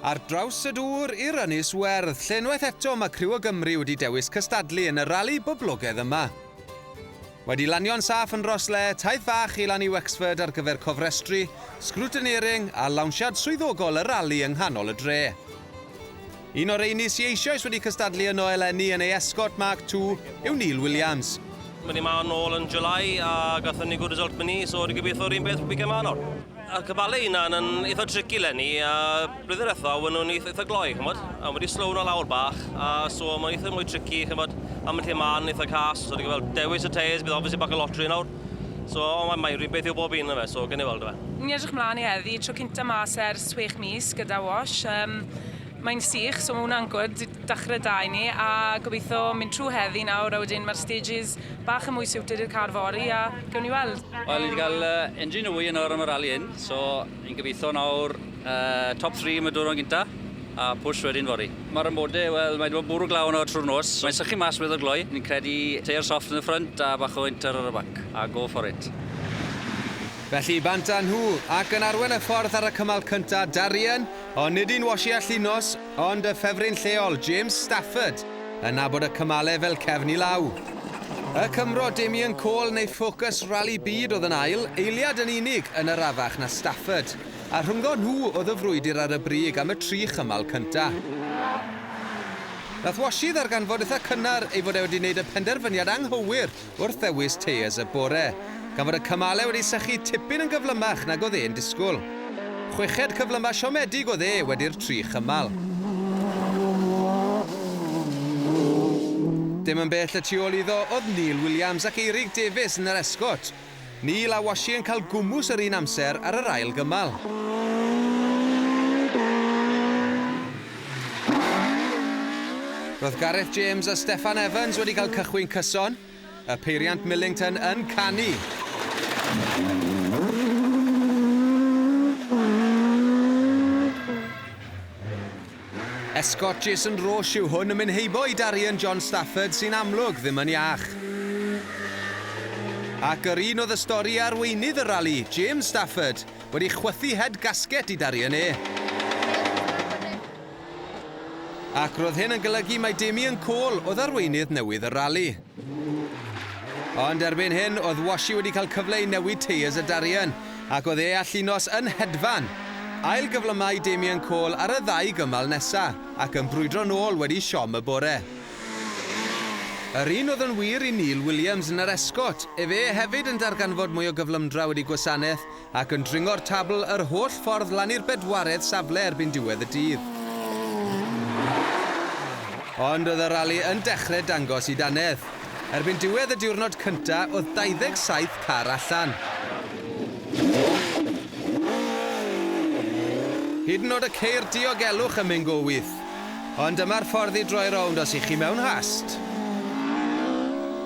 Ar draws y dŵr i'r Ynys Werdd, lle unwaith eto mae criw o Gymru wedi dewis cystadlu yn y rali boblogaidd yma. Wedi lanio'n saff yn Rhosslea, taith fach i lan i Wexford ar gyfer cofrestru, scrutineering a lawnsiad swyddogol y rali yng nghanol y dre. Un o'r rheiny sy eisioes wedi cystadlu yno eleni yn ei Escort Mark Two yw Neil Williams. O'n ni 'ma nôl yn July a gathon ni good result myn' i, so ni gobeithio 'r un peth weekend 'ma nawr. Y cyfale 'i hunan yn eitha tricky 'leni a blwyddyn dwetha we' nw'n eith- eitha gloi ch'mod a wedi slow nw lawr bach a so ma'n eitha mwy tricky ch'mod am y lle 'ma yn eitha cas so ni ga'l fel dewis y tyres bydd obviously bach o lottery nawr. So, o, mae, mae rhywbeth yw bob un yna fe, so gen i weld yma. Ni'n edrych mlaen i heddi, tro cynta mas ers 6 mis gyda Wash. Um, mae'n sych, so mae hwnna'n gwrdd, dachrau da i ni, a gobeithio mynd trwy heddi nawr, a wedyn mae'r stages bach yn mwy siwtyd i'r car fori, a gewn ni weld. Wel, ni wedi cael uh, engine newy yn o'r am y rali hyn, so Ni'n gobeithio nawr top three am y diwrnod gyntaf a push wedyn fory. Mae'r amode, wel, mae 'di bod bwrw glaw yno trwy'r nos. Mae'n sychu mas weddol gloi. Ni'n credu tyre soft yn y ffrynt a bach o inter ar y bac, a go for it. Felly bant â nhw, ac yn arwen y ffordd ar y cymal cyntaf, Darien, ond nid un washi a Llinos. Ond y ffefryn lleol, James Stafford, yn nabod y cymalau fel cefn i law. Y Cymro Damien Cole neu Focus Rali Byd oedd yn ail, eiliad yn unig yn arafach na Stafford, a rhyngo nhw oedd y frwydr ar y brig am y tri chymal cynta. Nath Washy ddarganfod itha cynnar ei fod e wedi neud y penderfyniad anghywir wrth ddewis teiars y bore, gan fod y cymalau wedi sychu tipyn yn gyflymach nag oedd e'n disgwyl. Chweched cyflymau siomedig oedd e wedi'r tri chymal. Dim yn bell y tu ôl iddo oedd Neil Williams ac Eirig Davies yn yr esgôt. Neil a Washi yn cael gwmws yr un amser ar yr ail gymal. Roedd Gareth James a Steffan Evans wedi cael cychwyn cyson. Y peiriant Millington yn canu. Esgôt Jason Roche yw hwn yn mynd heibo i Darien John Stafford sy'n amlwg ddim yn iach. Ac yr un oedd y stori a arweinydd y rali, James Stafford, wedi chwythu head gasket i Darien E. Ac roedd hyn yn golygu mai Damien Cole oedd arweinydd newydd y rali. Ond erbyn hyn, oedd Washi wedi cael cyfle i newid teiers y Darien, ac oedd e allu nos yn hedfan. Ail-gyflymai Damien Cole ar y ddau gymal nesa', ac yn brwydro nôl wedi siom y bore. Yr un oedd yn wir i Neil Williams yn yr esgôt, efe hefyd yn darganfod mwy o gyflymdra wedi gwasanaeth ac yn dringo'r tabl yr holl ffordd lan i'r bedwaredd safle erbyn diwedd y dydd. Ond oedd y rali yn dechre dangos i dannedd. Erbyn diwedd y diwrnod cynta oedd 27 car allan. Hyd yn nod y ceir diogelwch ym Mhengoeth. Ond dyma'r ffordd i droi rownd os y'ch chi mewn hast!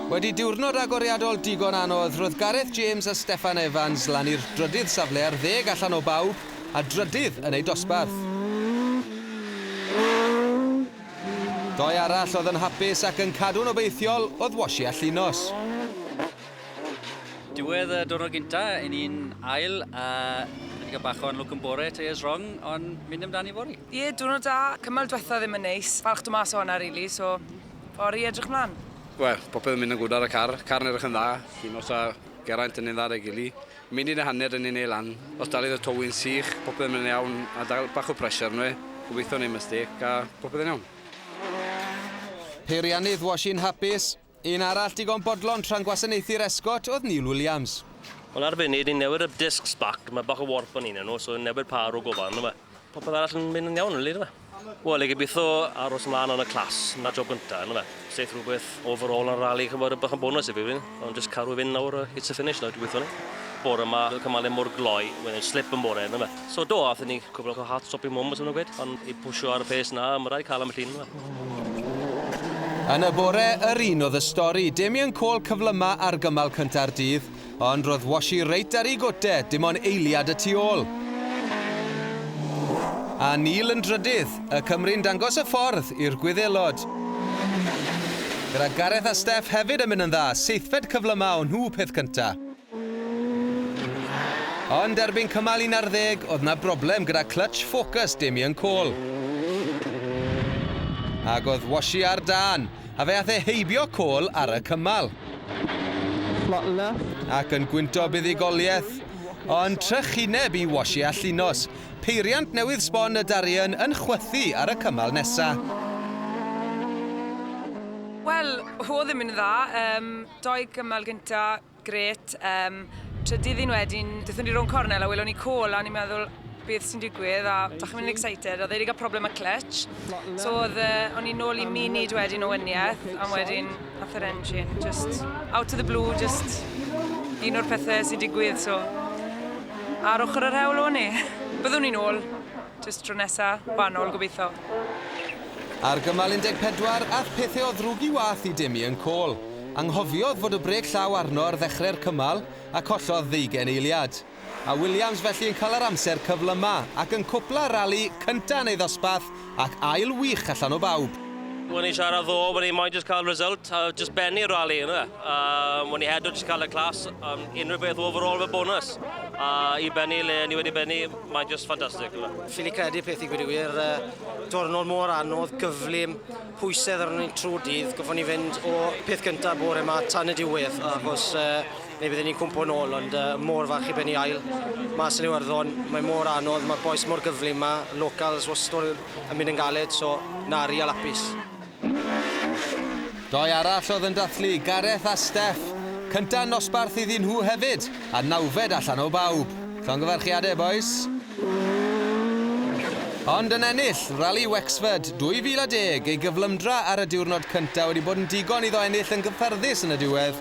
Wedi diwrnod agoriadol digon anodd, roedd Gareth James a Steffan Evans lan i'r drydydd safle ar ddeg allan o bawb, a drydydd yn eu dosbarth. Doi arall oedd yn hapus ac yn cadw'n obeithiol oedd Washi a Llinos. Diwedd y diwrnod gyntaf, yn un ail, a wedi cael bach o unlwc yn bore, tyres rong, ond mynd amdani fory. Ie, diwrnod da. Cymal dwetha ddim yn neis. Falch do mas o honna rili, so fory i edrych mlan. Wel, popeth yn mynd yn gwd ar y car. Car yn edrych yn dda. Un os a Geraint yn un dda 'da gili. Munud a hanner yn ei neu lan. Os daliodd y towyn sych, popeth yn mynd yn iawn. A da, bach o pressure arno fe. Gobeithio neu mistake a popeth yn iawn. Peiriannydd, was i'n hapus. Un arall digon bodlon tra'n gwasanaethu'r esgot oedd Neil Williams. Wel ar y funud ni'n newid y discs back, mae bach o warp yn un yn nhw, so ni'n newid pâr o gofau arno fe. Popeth arall yn mynd yn iawn rili ynddo fe. Wel, ni'n gobeithio aros ymlaen yn y clas, 'na job gynta ynddo fe. Seith rhywbeth overall yn y rali, chi'n gwybod, yn bach yn bonws i fi rili, ond jyst caru fynd nawr hits y finish nawr gobeithio ni. Bore 'ma, fel cymaru mor gloi, wedyn slip yn bore ynddo fe. So do, aethon ni cwbl o hard stop i Mwm, os yw hwnna'n gwed, ond i pwsio ar y pace 'na, ma' raid cael am y llun yma. Yn y bore yr un oedd y stori, Damien Cole cyflyma ar gymal cynta'r dydd, ond roedd Washi reit ar ei gote, dim ond eiliad y tu ôl. A Neil yn drydydd, y Cymry'n dangos y ffordd i'r Gwyddelod. Gyda Gareth a Steff hefyd yn mynd yn dda, seithfed cyflyma o nhw peth cynta. Ond erbyn cymal un ar ddeg, oedd 'na broblem gyda clytsh ffocws Damien Coll. Ac oedd Washy ar dân, a fe ath e heibio Coll ar y cymal. Flot left. Ac yn gwyntog buddugoliaeth. Ond trychineb i Washy a Llinos. Peiriant newydd sbon y Darien yn chwythu ar y cymal nesa. Wel, oedd e ddim yn dda. Dou gymal gynta, Grêt. Yym, trydydd un wedyn, dethon ni rownd cornel a welon ni call a o'n i'n meddwl beth sy'n digwydd a dach chi'n mynd yn excited, oedd e wedi cael problem â clutch. So oedd, uh, o'n i'n nôl i munud wedyn o wyniaeth a wedyn nath yr engine just out of the blue, just un o'r pethau sy'n digwydd, so ar ochr yr hewl o'n i. Byddwn ni'n ôl, Jyst tro nesa, fan nôl gobeitho. Ar gymal 14, ath pethe o ddrwg i wath i Demian Cole. Anghofiodd fod y brêc llaw arno ar ddechre'r cymal a collodd ddeugain eiliad. A Williams felly yn cael yr amser cyflyma ac yn cwpla'r rali cynta yn ei ddosbarth ac ail wych allan o bawb. O'n i'n siarad ddo, o'n i moyn jyst cael result a jyst bennu'r rali yndyfe. Yym o'n i heddo jyst cael y clas, yym unrhyw beth overall fel bonws. A i bennu le o'n i wedi bennu. Mae'n just ffantastig. Ffili credu peth i gwyd i wir. Diwrnod mor anodd, gyflym, pwysedd ar ni'n trwy dydd. Goffwn ni fynd o peth gyntaf bore yma tan y diwedd, achos neu byddwn ni'n cwmpo yn ôl, ond mor fach i benni ail. Mas yn Iwerddon, mae mor anodd, mae'r boes mor gyflym yma, locals wastod yn mynd yn galed, so nari a lapis. Doi arall oedd yn dathlu, Gareth a Steff. Cynta nosbarth iddyn nhw hefyd, a nawfed allan o bawb. Llongyfarchiadau bois. Ond yn ennill Rali Wexford 2010 ei gyflymdra ar y diwrnod cynta wedi bod yn digon iddo ennill yn gyffyrddus yn y diwedd.